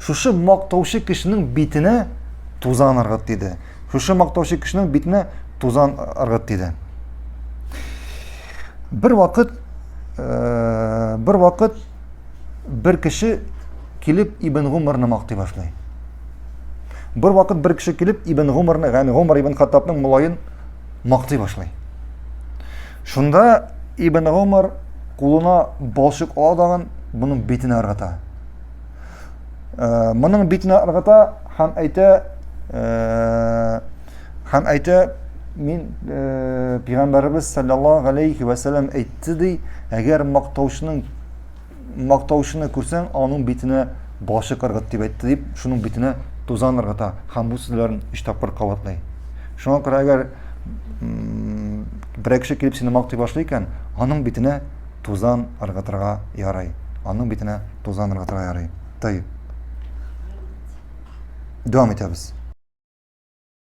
Шушы мактаучы кешенең битенә тузан ыргыт диде. Шушы мактаучы кешенең битенә тузан ыргыт диде. Бер вакыт э, бер вакыт бер кеше килеп Ибн Гумарны мактый башлый. Бер вакыт бер кеше килеп Ибн Гумарны, ягъни Гумар ибн Хаттабның мулаен мактый башлый. Шунда Ибн Гумар кулына балчык ала дагын, буның битенә ыргыта. Э, моның битне ыргыта һәм әйтә, э, һәм әйтә, мин э, пигамбарыбыз саллаллаху алейхи ва саллям әйтте ди, әгәр мактаучының мактаучыны күрсәң, аның битенә башы кыргыт дип әйтте дип, шуның битенә тузан ыргыта һәм бу сүзләрен өч тапкыр кабатлый. Шуңа күрә әгәр берәкше килеп сине мактый башлый икән, аның битенә тузан ыргытырга ярый. Аның битенә тузан ыргытырга ярый. Тый. Дәвам итәбез.